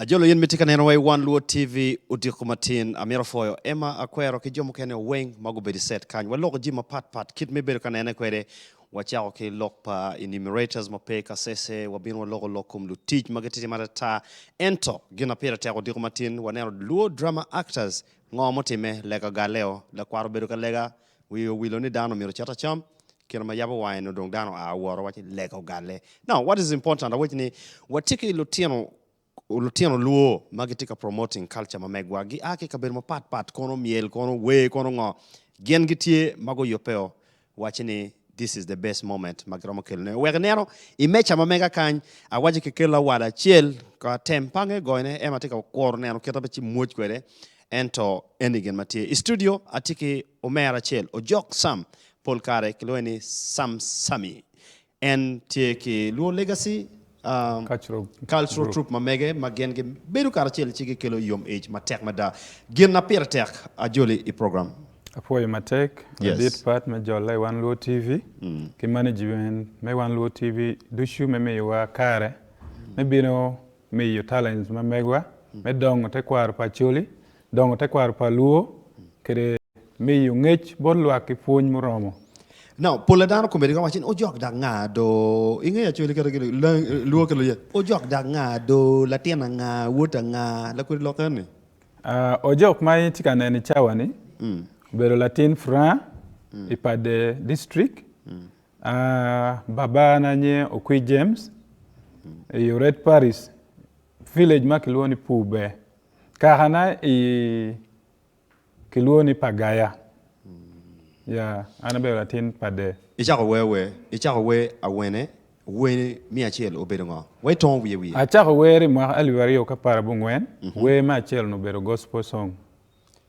Ajolo in mitye ka neno wa i wan luo TV odiko matin amito foyo Emma Akwero ki jo mukene weng ma gubedo i set kany. Waloko ji mapat pat kit ma ibedo ka nene kwede. Wacako ki lok pa enumerators ma pe i kasese, wabino waloko lok kom lutic ma gititimo atata. Ento gin ma pire tek odiko matin waneno luo drama actors ngo mutimme, Lega Galeo, lakwat obedo ka lega, Wiye owilo ni dano myero ocit acam. Kine ma yabo wange nongo dong dano oa woro waco ni lega ogalle. Now what is important awec ni watye ki lutino lutino luo ma gitye ka promoting culture ma megwa gi a ki i kabedo mapat pat kono myel kono wer kono ngo gin gitye ma guyubbeo waci ni this is the best moment ma giromo kelo ne. Wek ineno i meca ma mega kany awaco ki kelo awal acel ko atem pange goyo ne ema tye ka kuro neno kit ma ci mwoc kwede Ento eni gin ma tye. I studio atye ki omera acel, Ojok Sam, pol kare kilwonge ni Sam Sammy. En tye ki Luo Legacy Cultural Troupe ma mege ma gin gibedo karacel ci gikelo yom ic matek mada. Gin ma pire tek ajoli i program. Apwoyo matek ladit pat me jolla i One Luo TV ki management me One Luo TV ducu me miyowa kare me bino miyo talents ma megwa me dongo tekwaro pa Acholi, dongo tekwaro pa Luo kede miyo ngec bot lwak ki pwony muromo. Now, pol a dano komedi ka waco ni ojok dak nga do, ingeyo Acholi kadi ki Luo ki Luye, ojok dak nga do, latin anga, wot anga, lakwedi lok eni? Uh, ojok ma itye ka neno i cawa ni obedo latin Furaha i Padde District, Babana nye Okwi James i Oret Parish, village ma kilwongo ni Pube. Kakana i kilwongo ni Pagaya. Ya, an abedo latin pa de. Icako wer wer, icako wer awene, wer me acel obedo ngo? Wa itongo wiye wiye. Acako wer i mwaka alip aryo ki apar abongwen, wer me acel-nu obedo Gospel song,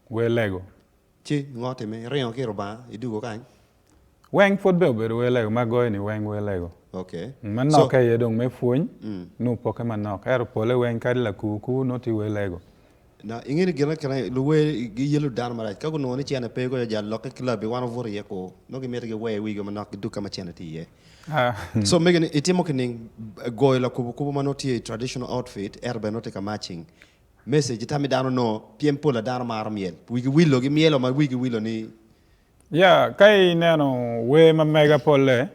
wer lego. Ci ngo time? Iringo ki i Rubanga, idugo kany. Weng pwod bene obedo wer lego ma agoyo ni weng wer lego. Okay. Ma So- nokke aye dong me pwony nongo pokke manok. Ento pole weng kadi lakur kur nongo tye wer lego. Na, inge ni gine kine luwer giyelow dano marac. Ka gunongo ni cene pe koyo jal lokke ki labbi wan wabuto iye kur. Nongo gimito giwer wigi manok gidug ka ma cene tye iye. Ah, So mege ni itimo kining? Goyo lakubo kubo ma nongo tye i traditional outfit ento bene nongo tye ka marching. Message, Tam i dano onongo pyem pol a dano maro myel. Wigi wilo gi myelo ma wigi wilo ni. Ya ka ineno wer ma mega polle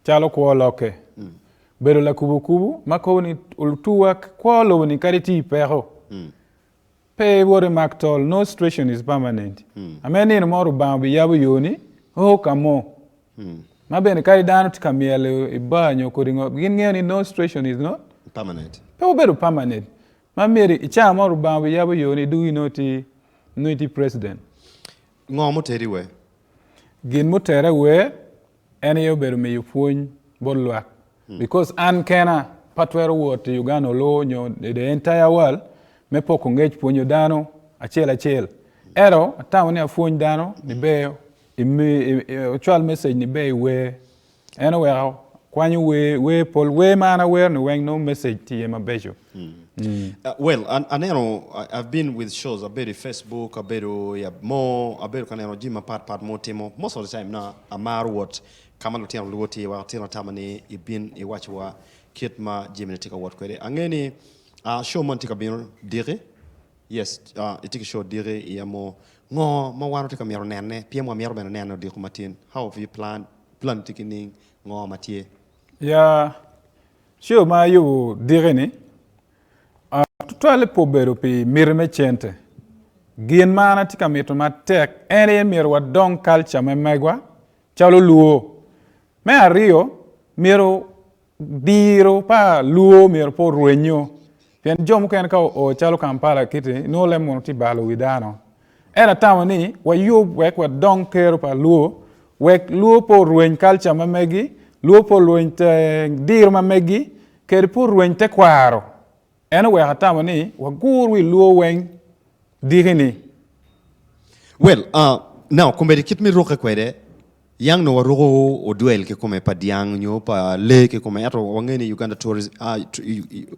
calo kwo lokke, bedo lakubukubu ma kobo ni otuwa kwo lobo ni kadi tye i peko pe iwot imak tol, no situation is permanent. Ame nino mo Lubanga obiyabo yo ni o ka mo. Ma bene kadi dano tye ka myel i bar nyo kodi ngo, gin ngeyo ni no situation is not, Permanent. pe wubedo permanent. Ma myero i caa mo Lubanga obiyabo yo ni dug inongo ti nongo iti president. Ngo muteri wer? Gin mutere wer en aye obedo miyo pwony bot lwak because an kena pe atwero wot i Uganda olo nyo i the entire world me poko ngec pwonyo dano acel acel. Ento atamo ni apwony dano ni ber imi i cwal message ni ber iwer En oweko akwanyo wer, wer pol wer ma an awero-ni weng nongo message tye mabeco. Uh, well, an, aneno, I- I've been with shows, abedo i Facebook, abedo i ab- mo, abedo ka neno jami mapat pat mo timo. Most of the time na amaro wot ka ma lutino lwor tye, wek atino atama ni ibin iwacciwa kit ma jamine tye ka wot kwede. Ange ni ah, show moni tye ka bino diki, yes, ah, itye ki show diki i amo. Ngo ma wan watye ka mito nenne? Pien wamyero bene nene odiko matin. How have you planned Plan tye ki ning ngo ma tye. Ya show ma ayubu diki ni tutwale pe obedo pi miti me cente. Gin ma an atye ka mito matek en aye myero wadong culture me megwa calo luo. Me aryo myero Diro pa lwor myero pe orwenyo pien jo mukene ka oo calo Kampala kiti nongo leb mono tye balo wi dano. Ento atamo ni wayub wek wadong kero pa lwor wek lwor pe orweny kalca ma megi, lwor pe orweny diro ma megi kede pe orweny tekwaro En oweko atamo ni wagur wi lwo weng diki ni. Well, uh, now komedi kit me rukke kwede, yang nongo waruko odwel kikome pa dyang nyo pa lee kikome ento wangeyo ni Uganda Tourism, uh,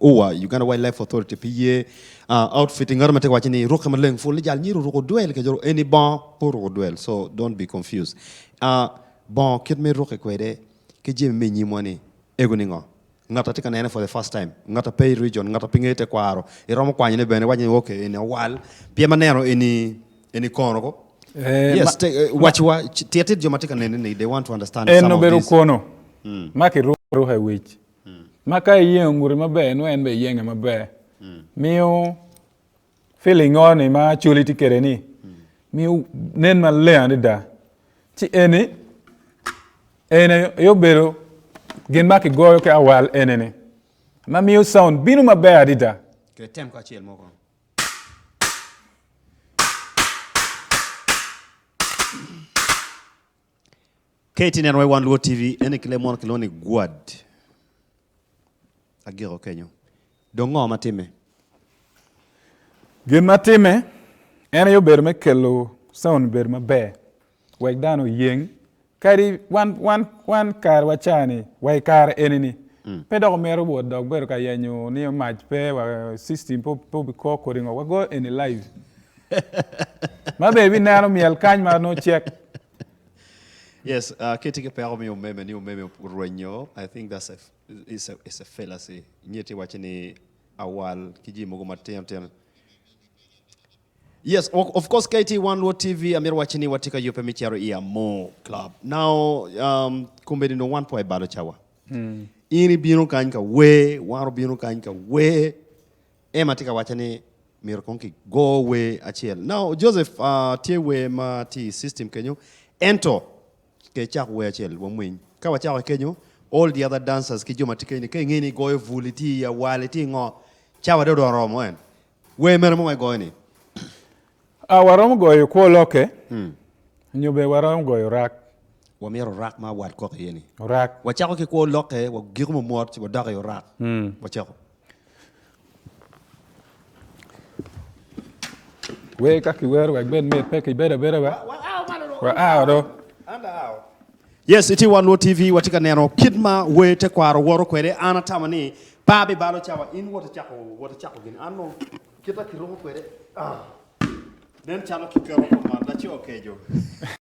UWA, Uganda Wild Life Authority pi ye, uh, outfit i ngata ma tye ka wace ni rukke maleng full ni jal myero oruk odwel kece ru, eni bongo pe oruk odwel so don't be confused, uh, bongo kit me rukke kwede ki jami me inyimwa ni ego ni ngo? Ngat a tye ka nene for the first time, ngat a pe i region, ngat a pe ngeyo tekwaro, iromo kwanyone bene iwaco ni okay eni awal pien ma neno eni eni kono ko. Eh, Yes, ma- te, eh, ma- waciwa ci- tit tit jo ma tye ka nene ni they want to understand En some of obedo these. kono ma kiruko aruka i wic, ma ka iyengo ngute maber nongo en bene iyenge maber. Miyo Pilingo ni ma Acholi tye kwede ni miyo nen maleng adada ci eni en aye obedo gin ma kigoyo ki awal enene ma miyo sound bino maber adada. Ket tem kacel mo kono. Ka itye neno i wan luo TV neno ki lee mo kilwongo ni gwad agiko kenyo dong ngo ma timme? Gin ma timme en aye obedo me kelo sound bedo maber wek dano oyeng kadi wan wan wan kare wa ca ni wa i kare eni ni pe dok omyero wot dok bedo ka yenyo nio mac pe wa system pe obi ko kodi ngo wago eni live. Ma be ibineno myel kany ma nongo cek. Yes, uh, kiti ki peko mi omeme ni omeme orwenyo, I think that's a, is a, is a fallacy. Nyeti wacho ni awal ki ji mogo matino tino. Yes, of, of course KT One Luo TV amir wacho ni watye ka yubbe mi cero i Amor Club. Now, um, kombedi dong wan po i balo cawa. In ibino kany ka wer, wan obino kany ka wer. Emma tye ka wacce ni myero kong ki go wer acel. Now Joseph tye wer ma tye i system kenyo ento ke cak wer acel wa mweny. Ka wa cako kenyo all the other dancers ki jo ma tye kenyo ni ka inge ni igoyo bul iti i awal iti ingo ca wa dong odong oromo en wer mene mo ma igoyo ni. Ah wa romo goyo kwo loke nyo be wa romo goyo rak. Wa myero rak ma wat kok iye ni. Rak. Wa cako ki kwo loke wa giko mo mwot ci wa dok i orak wa cako. Wer ka kiwero wek bed mit pe kibedo abeda wa. Wa do. Yes, iti wan Luo TV watye ka neno kit ma wer tekwaro woro kwede. An atamo ni pa bibalo cawa in wot icako wot icako gin. An nongo kita kiruko kwede ah, nen calo kiketo kom laco keco.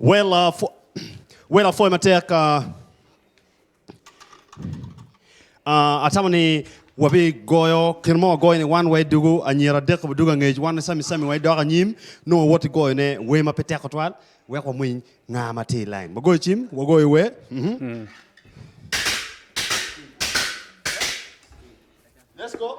Wela pwo, wela pwoya matek. ah, ah, atamo ni wabigoyo kino mo wagoyo ni wan wa i dugu anyira adek wadugo angec wan sami sami wa idok anyim nongo wawoti goyone wer ma pe tek tutwal wek wamwiny nga ma tye i lain. Wagoyo cim, wagoyo wer. Mhm. Let's go.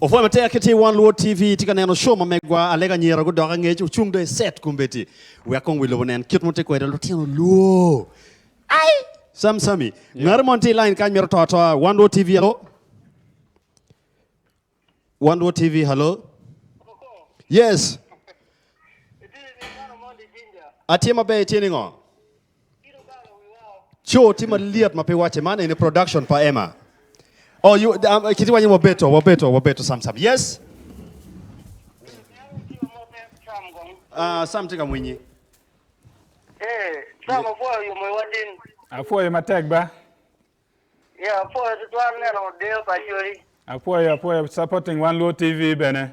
Opwoya matek ki tye won luot TV itye ka neno show ma megwa Alec Anyira gudok angec ocung do i set kombeddi wek kong wi lobo nen kit ma tye kwede lutino lwoo ai Sam Sammy ngati moni tye i line kany mito to atoa won luot TV hello won luot TV hello yes atye maber itye ningo Co tye ma lyet ma pe wacce. Man eni production pa Emma. Oh, you, um, kiti wanyo wabeto, wabeto, wabeto Sam Sam. Yes. Ah, Sam tye ka mwinyi. Eh, Sam apwoyo yomo i watin. Apwoyo matek ba. Ya, apwoyo tutwal neno deyo pa coli. Apwoyo, apwoyo supporting Wan Luo TV bene.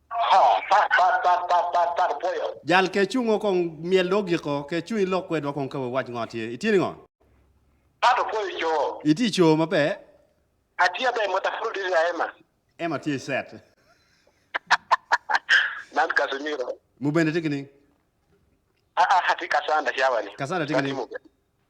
Jal ke cungo kong myel do ogiko, ke cung ilok kwedwa kong ka wawac ngo tye. Itye ningo? Itye i coo maber? Emma tye i set. Mubene tye ki ning? Cassandra tye ki ning?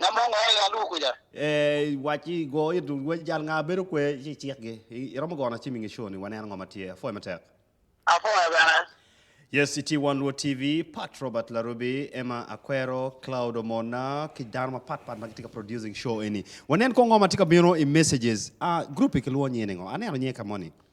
Ngam ma ongwaro ya lubo kwica. Ee, wacci, go it lweny jal nga bedo kwe ci icikgi. I, iromo gono acim i nge show ni, wanen ango ma tye. Apwoyo matek. Apwoyo bene. Yes, itye i Wan Luo TV, Pat Robert Larubi, Emma Akwero, Cloud Omona, ki dano mapat pat ma gitye ka producing show eni. Wanen kong ngo ma tye ka bino i messages. Ah, group-pi kilwongo nyinge ni ngo? Aneno nyinge ka moni.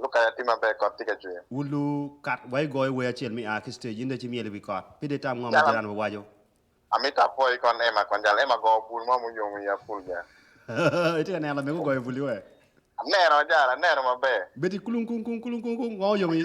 Luk kare atir maber, kot tye ka cwer. Wun lu kat wa igoyo wer acel mi a ki stage inde ci myel i wi kot. Pide itam ngo ma jiran wa waco. Amito apwoyi kon Emma kon jal Emma goo bul mo muyomo i apul ga. Itye ka neno lamego goyo bul iwe? Aneno jara aneno maber. Bedi kulung kung kung kulung kung kung ngo oyomi.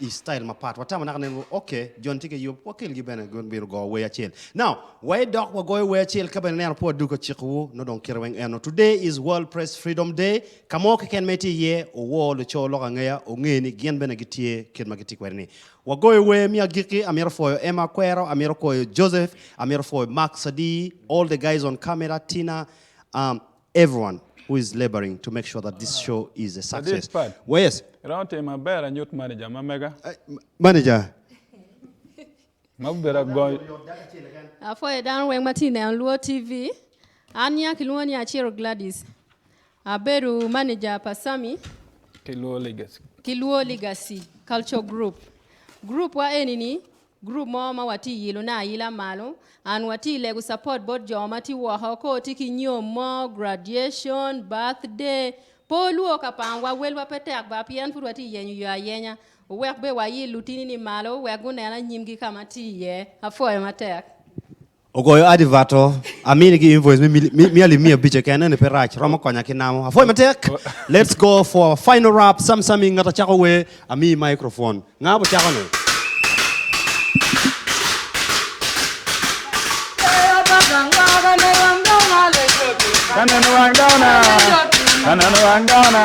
i style mapat. Watamo naka nen woko, ok, John tye ki yub, wakelgi bene gin bino go wer acel. Now, waye dok wagoyo wer acel ka bene ineno pe wadwogo ka cikowu, nongo dong kite weng eno. Today is World Press Freedom Day, ka mo keken ma itye iye, owo luco lok angeya onge ni gin bene gitye kit ma gitye kwede ni. Wagoyo wer me agikki, amito pwoyo Emma Akwero, amito pwoyo Joseph, amito pwoyo Mark Sadii, all the guys on camera, Tina, um, Everyone who is laboring to make sure that this show is a Ladit success. Pat, Well, yes, iromo timo maber anyut manager ma mega manager. ma bibedo agony. Apwoyo dano weng ma tye neno Luo TV. An nyinga kilwongo ni Aciro Gladys. Abedo manager pa Sammy Ki Luo Legacy. ki Luo Legacy Culture Group. Group wa eni ni Group mo ma wa ti yilo ne ayila malo and wa ti lego support bot jo ma ti woko ko ti ki nyom mo graduation, birthday, pe olwor ka pango wa welwa pe tek ba pien pud wa ti yenyo yo ayenya owek be wa yil lutini ni malo wek gunena nyimgi ka ma ti iye. Apwoyo matek. Ogoyo advert o, amini ki invoice me mia alip mia abic keken, eni pe rac, romo konya ki namo. Apwoyo matek. Let's go for our final rap, Sam Sam i ngata cako wer, amiyi microphone. Nga bu cako ni? Ka neno wang dano na, ka neno wang dano na.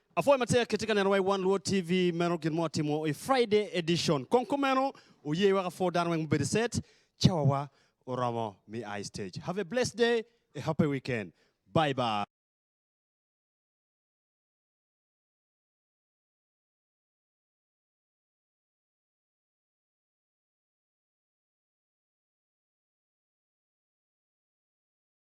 Apwoyo matek kitye ka neno wa i One Luo TV meno gin mo atimo i Friday edition kong kumeno wuye wek apwo dano weng mubedo i set cawa wa oromo me a i stage have a blessed day a happy weekend bye bye.